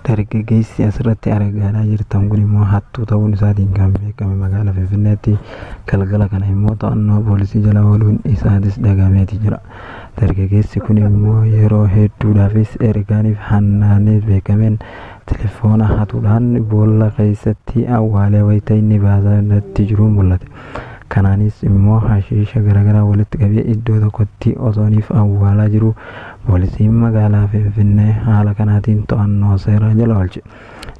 Dargaggeessi asirratti argaa jirtan kun immoo hattuu ta'uun isaatiin kan beekame magaalaa Finfinneetti galgala kana immoo to'annoo poolisii jala ooluun isaatis dhagahameeti jira. Dargaggeessi kun immoo yeroo hedduudhaafis ergaaniif hannaanee beekameen telefoona hatuudhaan boolla keessatti awwaalee wayita inni baasaa irratti jiru mul'ate. Kanaanis immoo hashiisha garaagaraa walitti qabee iddoo tokkotti osooniif awwaalaa jiru poolisiin magaalaa Finfinnee haala kanaatiin to'annoo seeraa jala oolche.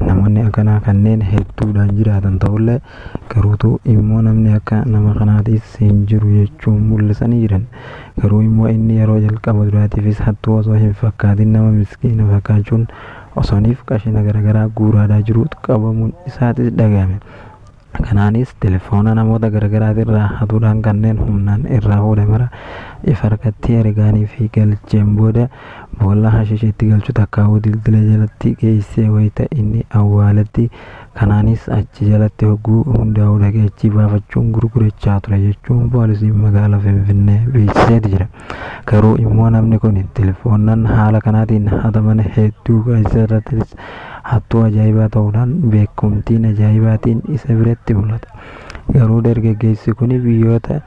Namoonni akkanaa kanneen hedduudhaan jiraatan ta'ullee garuutu immoo namni akka nama kanaatiis hin jiru jechuun mul'isanii jiran. Garuu immoo inni yeroo jalqaba duraatiifis hattuu osoo hin fakkaatin nama miskiina fakkaachuun osooniif qashina garaagaraa guuraadaa jiruutu qabamuun isaatis dhagahame. Kanaanis telefoona namoota garagaraati irraa hatuudhaan kanneen humnaan irraa fuudhe mara if harkatti ergaanii fi galcheen booda boolla hashisha itti galchu takkaawuu dildila jalatti geessee wayta inni awwaaletti kanaanis achi jalatti hogguu hundaa'uu dhaqee achii baafachuun gurgurachaa ture jechuun poolisiin magaala Finfinnee beeksiseeti jira. Garuu immoo namni kun telefoonnan haala kanaatiin hataman hedduu keessa irrattis hattuu ajaa'ibaa ta'uudhaan beekumtiin ajaa'ibaatiin isa biratti mul'ata. Garuu dargaggeessi kun biyyoota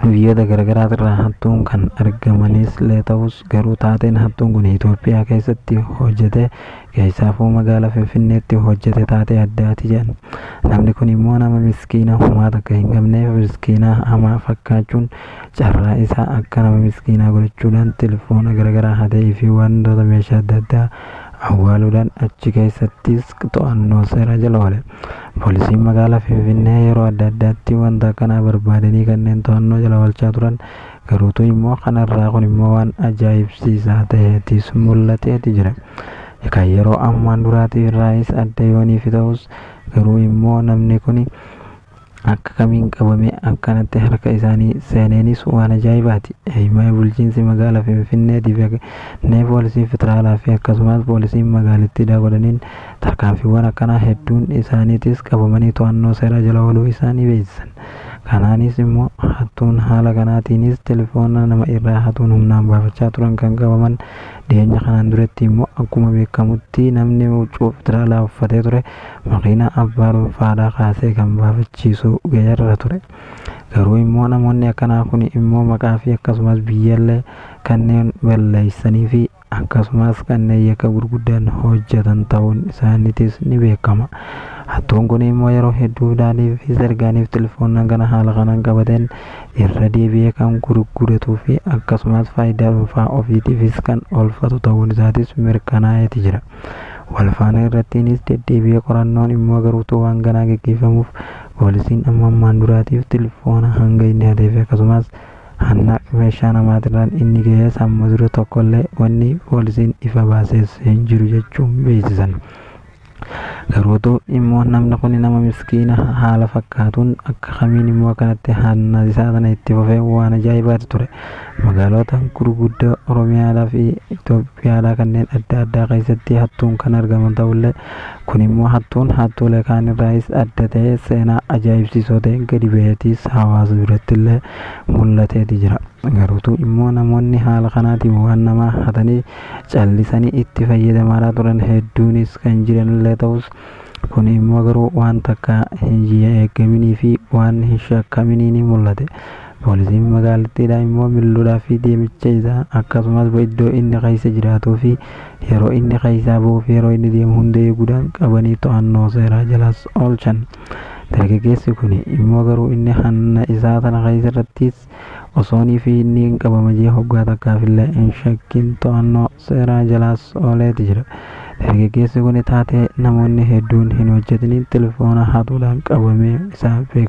biyyoota garaagaraa irraa hattuun kan argamanis illee ta'us garuu taateen hattuun kun Itoophiyaa keessatti hojjete keessaafuu magaalaa Finfinneetti hojjete taatee addaati jedhan. Namni kun immoo nama miskiina homaa takka hin qabneef miskiinaa hamaa fakkaachuun carraa isaa akka nama miskiinaa godhachuudhaan telefoona garagaraa hatee fi wantoota meeshaa adda addaa awwaaluudhaan achi keessattis to'annoo seeraa jala oole. Poolisiin magaalaa Finfinnee yeroo adda addaatti wanta akkanaa barbaadanii kanneen to'annoo jala oolchaa turan garuutu immoo kanarraa kun immoo waan ajaa'ibsiisaa ta'eetis mul'ateeti jira. Egaa yeroo ammaan duraatiif irraayis adda yooniif ta'us garuu immoo namni kuni Akka kamiin qabame akkanatti harka isaanii seeneenis waan ajaa'ibaati. Eeyyumaayi bulchiinsi magaala Finfinnee tive nee poolisii federaalaa fi akkasumaas poolisiin magaalittii daagodhaniin tarkaanfiiwwan akkanaa hedduun isaaniitis qabamanii to'annoo seeraa jala ooluu isaanii beeksisan. Kanaanis immoo hattuun haala kanaatiinis telefoona nama irraa hatuun humnaan baafachaa turan kan qabaman dhiyeenya kanaan duretti immoo akkuma beekamutti namni huccuu federaalaa uffatee ture makiinaa abbaa dhuunfaadhaa kaasee kan baafachiisu ga'eerra ture. Garuu immoo namoonni akkanaa kun immoo maqaa fi akkasumas biyyallee kanneen balleessanii fi akkasumas kanneen yakka gurguddaan hojjetan ta'uun isaaniitis ni beekama. Hattuun kun immoo yeroo hedduu daalii fi sergaaniif telefoonaan kana haala kanaan qabateen irra deebi'ee kan gurguratuu fi akkasumas faayidaa dhuunfaa ofiitiifis kan oolfatu ta'uun isaatis mirkanaa'eeti jira. Walfaana irrattiinis deddeebi'ee qorannoon dhimma garuutuu waan ganaa geggeeffamuuf poolisiin amma ammaan duraatiif tilfoona hanga inni hateefi akkasumaas hannaq meeshaa namaatirraan inni gahees amma dura tokkollee wanni poolisiin ifa baasees hin jiru jechuun beeksisan. Garuutuu immoo namni kuni nama miskiina haala fakkaatuun akka kamiin immoo akkanatti hanna isaa tana itti fufee waan ajaa'ibaati ture. Magaaloota gurguddoo Oromiyaalaa fi Itoophiyaalaa kanneen adda addaa keessatti hattuun kan argaman ta'ullee kun immoo hattuun hattuulee kaan irraayis adda ta'ee seenaa ajaa'ibsiisoo ta'een gadi baheetiis hawaasa biratti illee mul'ateeti jira. Garuutu immoo namoonni haala kanaatiin waan namaa hatanii callisanii itti fayyadamaaraa turan hedduunis kan jiranillee ta'us kun immoo garuu waan takka hin eegaminii fi waan hin shakkaminiin mul'ate. Poolisiin magaalattii dha immoo milluudhaa fi deemicha isaa akkasumas iddoo inni keessa jiraatuu fi yeroo inni keessaa bahuu fi yeroo inni deemu hunda eeguudhaan qabanii to'annoo seeraa jalaas oolchan. Dargaggeessi kuni immoo garuu inni hanna isaa tana keessa irrattiis osoonii fi inni hin qabama jee hoggaa takkaaf illee hin shakkin to'annoo seeraa jalaas ooleeti jira. Dargaggeessi kuni taatee namoonni hedduun hin hojjatiniin telefoona hatuudhaan qabamee isaa beekama.